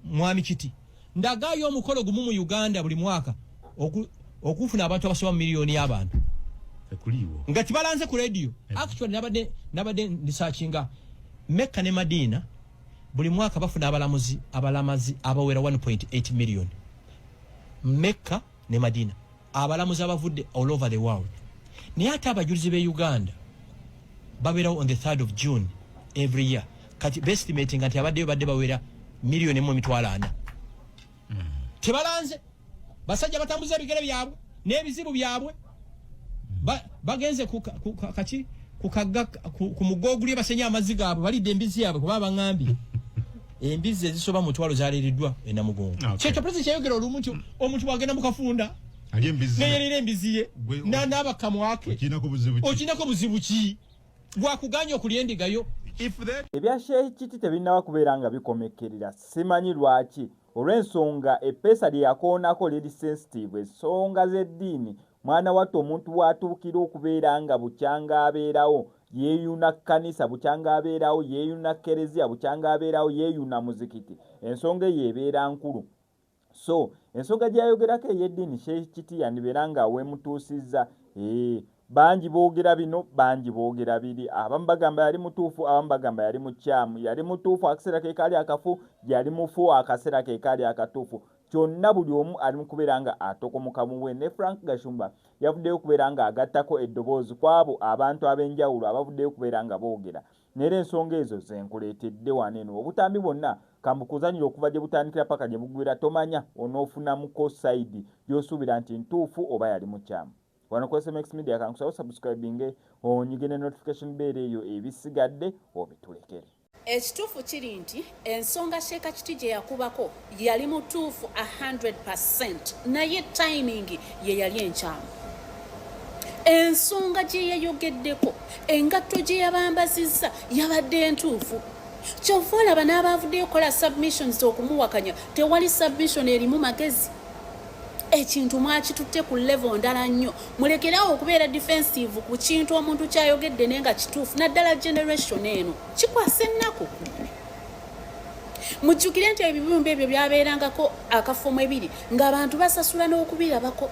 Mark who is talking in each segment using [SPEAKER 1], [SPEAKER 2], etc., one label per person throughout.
[SPEAKER 1] mwami kiti ndagaayo omukolo gumu mu uganda buli mwaka okufuna abantu abasoba mu miliyoni y'abantu
[SPEAKER 2] nga kibalanze ku
[SPEAKER 1] rediyo actually nabadde nabadde ndisakinga mekka ne madiina buli mwaka bafuna abalamuzi abalamazi abawera 1.8 million mekka ne madina abalamuzi abavudde all over the world naye ate abajulizi be uganda babeerawo on the 3rd of june every year kati bestimatinga nti abaddeyo badde bawera million emu emitwalo ana tebalanze basajja batambuza ebigere byabwe n'ebizibu byabwe bagenze kaki kukagga ku mugogulye basenya amazzi gaabwe balidde embizi yaabwe kuba baŋambye embizi ezisoba mu mutwalo zaleereddwa enamugongo ah, kyekyo pulezidenti kyeyogera olumu nti omuntu bwagenda mu kafunda
[SPEAKER 2] neyerera embizi ye
[SPEAKER 1] n'abakamwake okiinako buzibu ki gwakuganya okulya endiga yo ebya
[SPEAKER 3] sheikh kiti tebinaba kubeera nga bikomekerera simanyi lwaki olw'ensonga eppeesa lye yakoonako liri sensitive ensonga z'eddiini mwana wattu omuntu w'atuukira okubeera nga bukyanga abeerawo yeeyuna kkanisa bukyanga abeerawo yeeyuna kereziya bukyanga abeerawo yeeyuna muzikiti ensonga eyo ebeera nkulu so ensoga gyayogerako eyeddiini sheikh kiti yandibeera nga wemutuusizza ee eh, bangi boogera bino bangi boogera biri abamu bagamba yali mutuufu abamu bagamba yali mukyamu yali mutuufu akaseera kekaali akafu yali mufu akaseera kekaali akatuufu kyonna buli omu ali mu kubeera nga atokomoka muwe ne frank gashumba yavuddeyo okubeera nga agattako eddoboozi kw'abo abantu ab'enjawulo abavuddeyo okubeera nga boogera Nera ensonga ezo zenkuletedde wano eno obutambi bwonna kambukuzanyire okuva gyebutandikira paka gyebuggwira tomanya onofunamuko side gyosuubira nti ntuufu oba yali mukyamu wano ku SMX media kankusabe osubscribinge onyige ne notification bell eyo ebisigadde obitulekere. Ekituufu
[SPEAKER 4] kiri nti Ensonga Sheeka Kiti gye yakubako yali mutuufu 100% naye tayimingi ye yali enkyamu. Ensonga gye yayogeddeko engatto gye yabambazizza yabadde entuufu. Kyova olaba n'abaavuddeyo okukola submissions okumuwakanya tewali submission erimu magezi. Ekintu mwakitutte ku level ndala nnyo. Mulekerawo okubeera defensive ku kintu omuntu ky'ayogedde naye nga kituufu naddala generation eno. kikwasa ennaku mujjukire nti ebibumba ebyo byabeerangako akafumu ebiri ng'abantu basasula n'okubirabako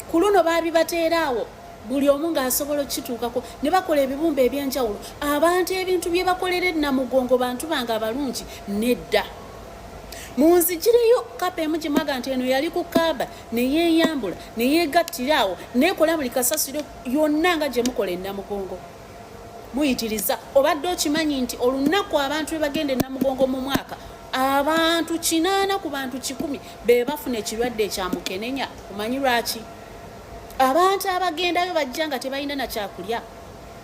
[SPEAKER 4] ku luno baabibateeraawo buli omu ng'asobola okukituukako ne bakola ebibumba eby'enjawulo abantu ebintu bye bakolera ennamugongo bantu bange abalungi nedda munzigireyo kapa emu gimwaga nti eno yali ku kaaba neyeeyambula neyeegattira awo neekola buli kasasiro yonna nga gye mukola ennamugongo muyitiriza obadde okimanyi nti olunaku abantu bebagenda enamugongo mu mwaka abantu kinaana ku bantu kikumi bebafuna ekirwadde ekyamukenenya omanyi lwaki abantu abagendayo bajja nga tebalina nakyakulya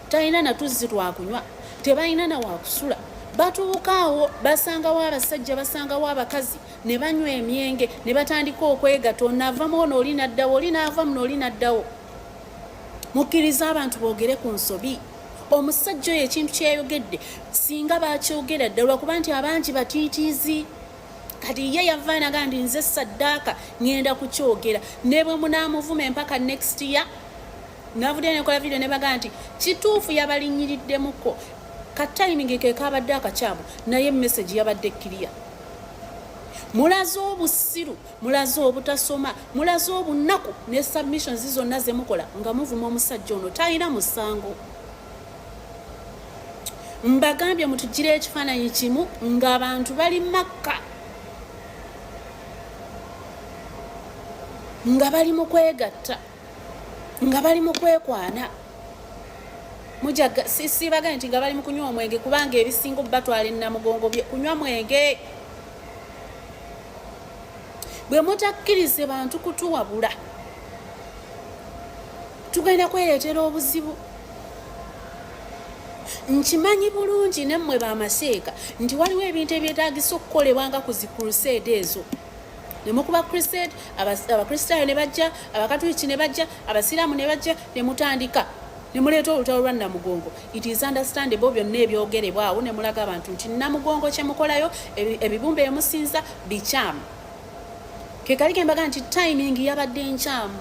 [SPEAKER 4] talina natuzzi lwakunywa tebalina nawakusula batuukaawo basangawo abasajja basangawo abakazi ne banywa emyenge ne batandika okwegata onava muono oli naddawo oli naava muno oli naddawo mukkiriza abantu boogere ku nsobi omusajja oyo ekintu kyeyogedde singa bakyogera ddala lwakuba nti abangi batiitiizi kati ye yava naga nti nze saddaaka ŋenda kukyogera ne bwe munaamuvuma empaka next year navudde nekola vidiyo ne baga nti kituufu yabalinyiriddemukko katayimingi kekaabadde akakyamu naye message yabadde ekkiriya mulaze obusiru mulaze obutasoma mulaze obunnaku ne submissions zonna zemukola nga muvuma omusajja ono talina musango mbagambye mutugira ekifaananyi kimu ngaabantu bali makka nga bali mu kwegatta nga bali mu kwekwana mujasibagane nti nga bali mu kunywa omwenge kubanga ebisinga obubatwala enamugongo kunywa mwenge bwe mutakkirize bantu kutuwabula tugenda kwereetera obuzibu nkimanyi bulungi nemmwe bamaseeka nti waliwo ebintu ebyetagisa okukolebwa nga ku zi crusade ezo nemukuba crusade abakristaayo ne bajja abakatuliki ne bajja abasiraamu ne bajja ne mutandika ne muleeta olutalo lwa namugongo It is understandable byonna ebyogerebwa awo ne mulaga abantu nti namugongo kye mukolayo ebibumba emusinza bikyamu kekali kembaga nti timing yabadde nkyamu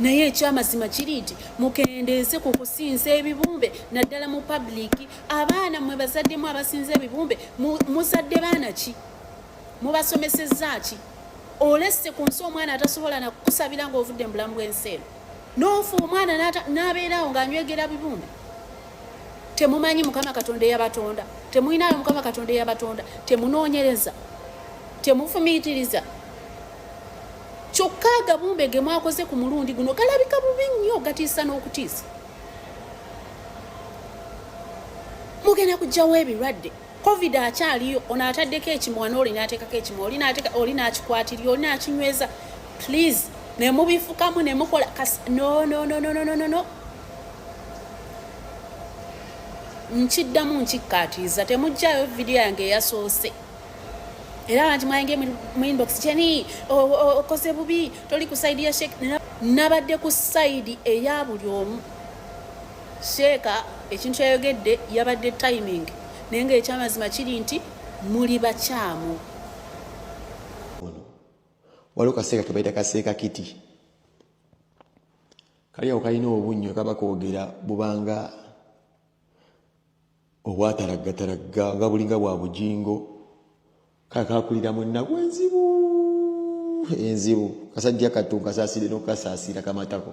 [SPEAKER 4] naye ekyamazima kiri nti mukendeeze ku kusinza ebibumbe naddala mu pabuliki abaana mwe bazaddemu abasinza ebibumbe muzadde baana ki mubasomesezza ki olesse ku nsi omwana atasobola nakukusabira ngaovudde mu bulamu bw'ensi eno n'ofa omwana n'abeerawo ng'anywegera bibumba temumanyi mukama katonda eyabatonda temulinayo mukama katonda eyabatonda temunoonyereza temufumiitiriza kyokka agabumbe ge mwakoze ku mulundi guno galabika bubi nnyo gatiisa n'okutiisa mugenda kujjawo ebirwadde covid akyaliyo ono ataddeko ekimwa nooli nateekako ekimwa oli nakikwatirira oli nakinyweza please nemubifukamu nemukola nonononononono nkiddamu nkikkaatiriza temugjayo vidiyo yange eyasoose era banti mwayinge mu inbox kyeni okoze bubi toli ku saidi ya shek nabadde ku saidi eya buli omu Sheeka ekintu yayogedde yabadde timing naye nga ekyamazima kiri nti muli bakyamu.
[SPEAKER 5] Waliwo kaseeka kebayita kaseeka kiti kali awo kalina obunnyo kaba koogera bubanga obwatalaggatalagga nga bulinga bwa bujingo kale kakulira mu ennaku enzibu enzibu kasajja kattu nkasaasire n'okukasaasira kamatako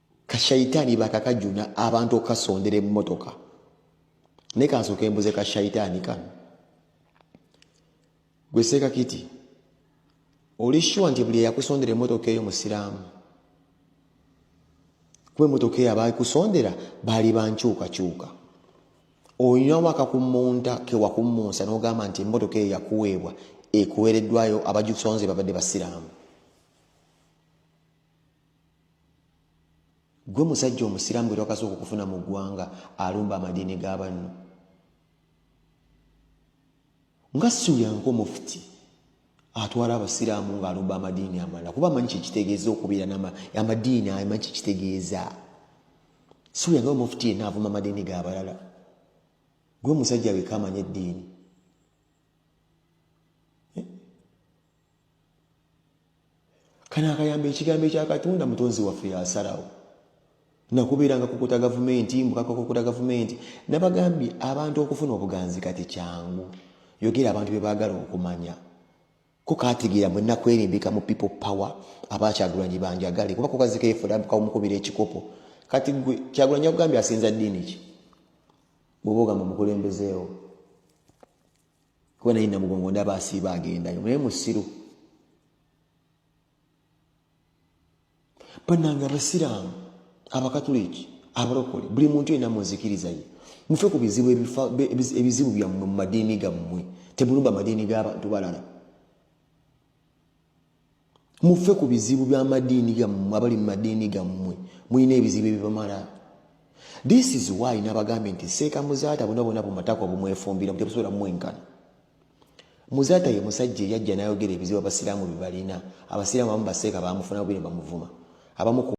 [SPEAKER 5] kashaitaani bakakajuna abantu okukasondera emmotoka naye kansooka embuze kashaitaani kano gwe seeka kiti oli shuwa nti buli eyakusondera emmotoka eyo musiraamu kuba emmotoka eyo abaakusondera baali bankyukakyuka olina waka ku munta kewakummunsa n'ogamba nti emmotoka eyo yakuweebwa ekuweereddwayo abagikusonze babadde basiraamu gwe musajja omusiraamu bwe twakasooka okufuna mu ggwanga alumba amadiini ga banno nga siuyanka omufuti atwala abasiraamu ng'alumba amadiini amalala kuba amanyi kyekitegeeza okubeera amadiini amanyi kyekitegeeza siuyanka omufuti yenna avuma amadiini ga balala gwe musajja weka amanya eddiini eh? kano akayamba ekigambo ekyakatonda mutonzi waffe yasalawo nakubeeranga kukuta gavumenti mbukakokukuta gavumenti nabagambye abantu okufuna obuganzi kati kyangu yogera abantu bebagala okumanya kukategeera mwe nakwerimbika mu people power abakyagulanyi banjagale kuba kukazikeefulamukubira ekikopo kati gwe kyagulanyi akugambye asinza ddiini ki bwoba ogamba mukulembezeewo kuba naye namugongo ndaba asiiba agendayo naye musiru banange abasiraamu abakatuliki abalokole buli muntu yena munzikiriza ye mufe ku bizibu ebizibu byammwe mu madiini gammwe temulumba madiini g'abantu balala mufe ku bizibu byamadiini gammwe abali mu madiini gammwe mulina ebizibu ebibamala this is why nabagambye nti seeka muzaata bona bona bumatako bumwefumbira tebusobola mumwenkana muzaata ye musajja eyajja nayogera ebizibu abasiraamu byebalina abasiraamu abamu baseeka bamufuna bubiri bamuvuma abamu